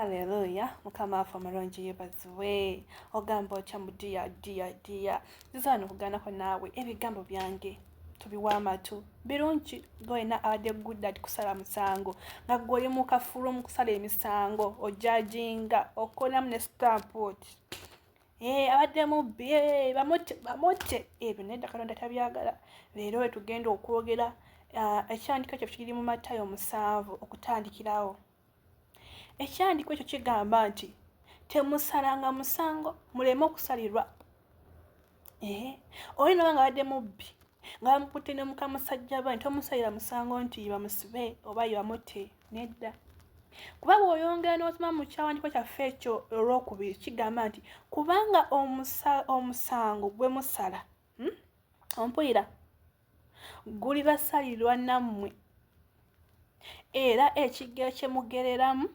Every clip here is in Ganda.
Haleluya mukama waffe omulungi yebaziwe ogamba otya mu dia dia dia nziza wano kuganako naawe ebigambo byange tubiwa amatu birungi gwena abadde gudad kusala musango nga gwe oli mu kafulu mu kusala emisango ojajinga okolamu ne stampot eh, abadde mubbi eh, bamutte bamutte ebyo naye dakatonda tabyagala leero wetugenda okwogera ah, ekyandika ekyo kiri mu matayo omusanvu okutandikirawo Ekyandiko ekyo kigamba nti temusalanga musango muleme okusalirwa. Ehe, oli noba nga badde mubbi nga bamukutte ne mukamusajja ba nti omusalira musango nti bamusibe oba yebamutte nedda. Kuba bw'oyongera n'osoma mu kyawandiko kyaffe ekyo olwokubiri kigamba nti kubanga omusa, omusango gwe musala hmm? ompulira guli basalirwa nammwe era ekigero kye mugereramu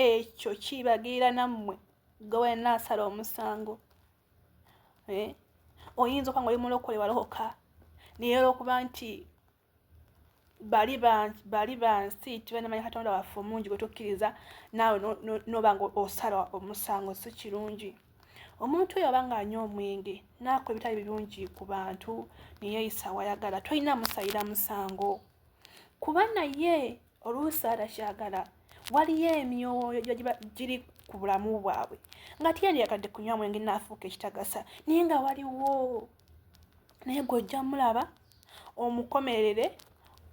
ekyo kibagirira nammwe gwe wena asala omusango eh? oyinza okuba nga oli mulokole walokoka naye olwokuba nti bali bali bansi tibanamanya katonda waffe omungi gwetukkiriza naawe noba nga osala omusango si kirungi omuntu oyo abanga anywa omwenge naakola ebitali birungi ku bantu neyeyisa wayagala tolina musayira musango kuba naye oluusi atakyagala waliyo emyoyo gyogiba giri ku bulamu bwabwe nga tiyandiyakadde kunywa mwenge naafuuka ekitagasa naye nga waliwo naye gwe ojja mulaba omukomerere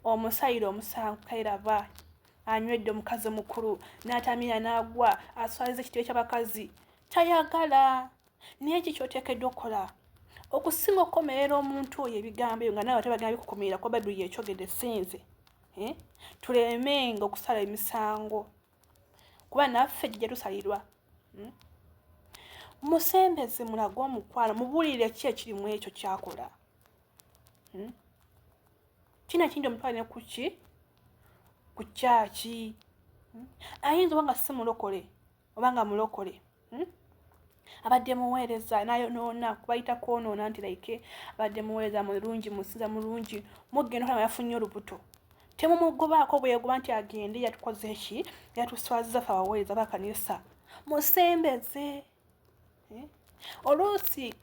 omusayire omusanvu kairaba anywedde omukazi omukulu n'atamira n'agwa aswaliza ekitebe ky'abakazi tayagala naye eki kyoteekeddwa okukola okusinga okukomerera omuntu oyo ebigambo ebyo nga nawe ate bagenda bikukumirira kuba bayibuli yekyogedde sinze eh? tulemenga okusala emisango kuba naffe gye tusalirwa hmm? musembeze mulage omukwano mubuulire ki ekirimu ekyo kyakola hmm? kino ekintu omutwale ne kuki ku kyaki hmm? ayinza oba nga si mulokole oba nga mulokole hmm? abadde muweereza nayonoona kubayita kwonoona nti like abadde muweereza mulungi musinza mulungi mugenda okulaba yafunye olubuto temumugobaako bweyagoba nti agende yatukoze eki yatuswaziza fe abaweereza bakanisa musembeze eh? oluusi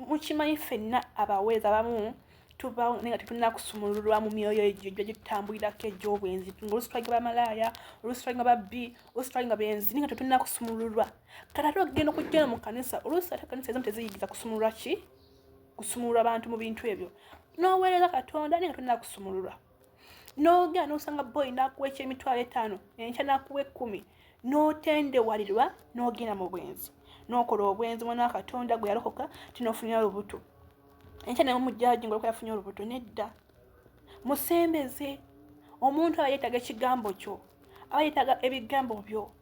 mukimanyi fenna abaweereza abamu tubawo naye nga tetulina kusumululwa mu myoyo egyo gyo gitutambulirako egy'obwenzi ngaolusi twalinga bamalaaya olusi twalinga babbi olusi twalinga benzi naye nga tetulina kusumululwa kati ate okugenda okujjana mu kanisa olusi ate kanisa ezimu teziyigiza kusumululwa ki kusumululwa bantu mu bintu ebyo n'oweereza katonda naye nga tulina kusumululwa n'ogenda n'osanga boyi n'akuwa ekyemitwalo etaano enkya n'akuwa ekkumi n'otendewalirwa n'ogenda mu bwenzi n'okola obwenzi mwana wa katonda gwe yalokoka tinofunira olubuto enkya naye omujjaji ngaolko yafunye olubuto nedda musembeze omuntu aba yeetaaga ekigambo kyo aba yeetaaga ebigambo byo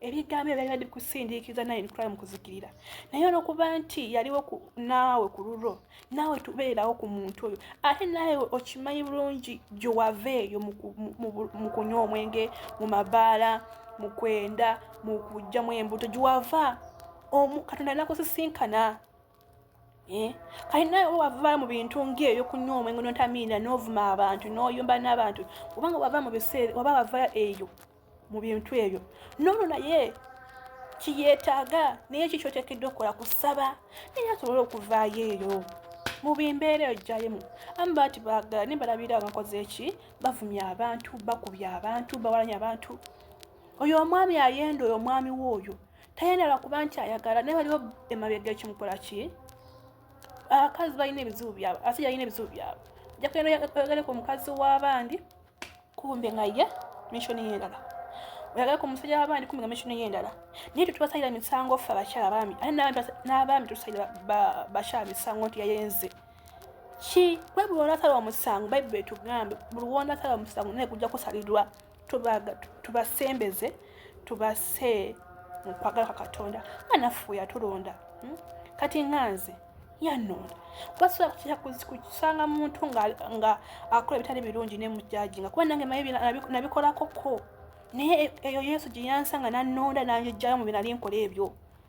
ebigambo ebyo byali bikusindiikiza naye bitwala mu kuzikirira naye olwokuba nti yaliwo naawe ku lulwo naawe tubeerawo ku muntu oyo ate naawe okimanyi bulungi gyewava eyo mu kunywa omwenge mu mabaala mu kwenda mu kujjamu embuto gyewava omu katonda nakusisinkana Eh? kati naye wava mu bintu ngaebyo kunywa omwengo notamiina novuma abantu noyumba nabantu kubanga wava mu biseera waba wava eyo mu bintu ebyo noono naye kiyetaaga naye ki kyoteekeddwa okukola kusaba naye asobole okuvaayo eyo mu bimbeera eyo gyalimu amu baati baagala naye balabira abakoze eki bavumya abantu bakubya abantu bawalanya abantu oyo omwami ayenda oyo omwami we oyo tayenda lwakuba nti ayagala naye waliwo emabega ekimukola ki abakazi balina ebizibu byabwe abasajja balina ebizibu byabwe jakugendaoyagaleko omukazi w'abandi kumbe nga ye mission yendala oyagala ku musajja wabandi kumbe nga mission yendala naye tetubasalira misango ffe abakyala baami ate n'abaami tetusalira bakyala misango nti yayenze ki bayibuli onasala omusango bayibuli etugambe buli wonasala omusango naye kujja kusalirwa tubasembeze tubase mukwagala kwa katonda nga naffe yatulonda hmm? kati nga nze yano wasobola kutya kusanga muntu nga akola ebitali birungi nemujaji nga kuba nange maye nabikolako ko naye e, eyo yesu gyeyansanga nanonda nanjijjayo mu binali nkola ebyo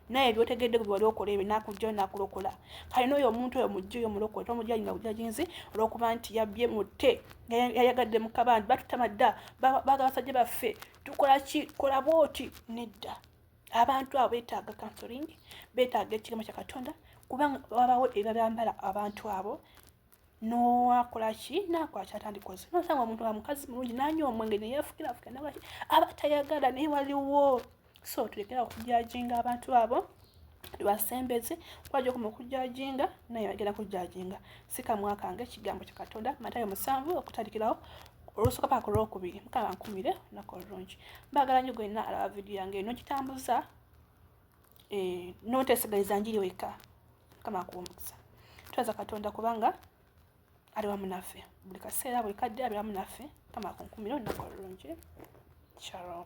naye byotegedde gwe wali okola ebyo nakujjayo nakulokola kale noyo omuntu oyo mujja oyo mulokole tomujaji nga bujajinzi olwokuba nti yabye mute yayagadde mukabandi batutama dda baga basajja baffe tukola ki kola bwoti nedda abantu abo betaaga counseling betaaga ekirimo kya katonda kubanga wabawo ebyabambala abantu abo nowakola ki nakwaki atandikoze nosanga omuntu wa mukazi mulungi nanywa omwenge neyefukirafuka nabaki aba tayagala naye waliwo so tulekera okujajinga abantu abo lwasembezi kwaja okuma okujajinga naye agera kujajinga sikamwakange ekigambo kya katonda matayo musanvu okutalikirawo olusuka paka ku lwokubiri mukaba nkumire olunaku olulungi mbagala nyo gwenna alaba vidiyo yange eno gitambuza eh, notesigaliza njiri weka mukama akuwa omukisa twebaza katonda kubanga ali wamu naffe buli kaseera buli kadde ali wamu naffe mukama akunkumire olunaku olulungi shalom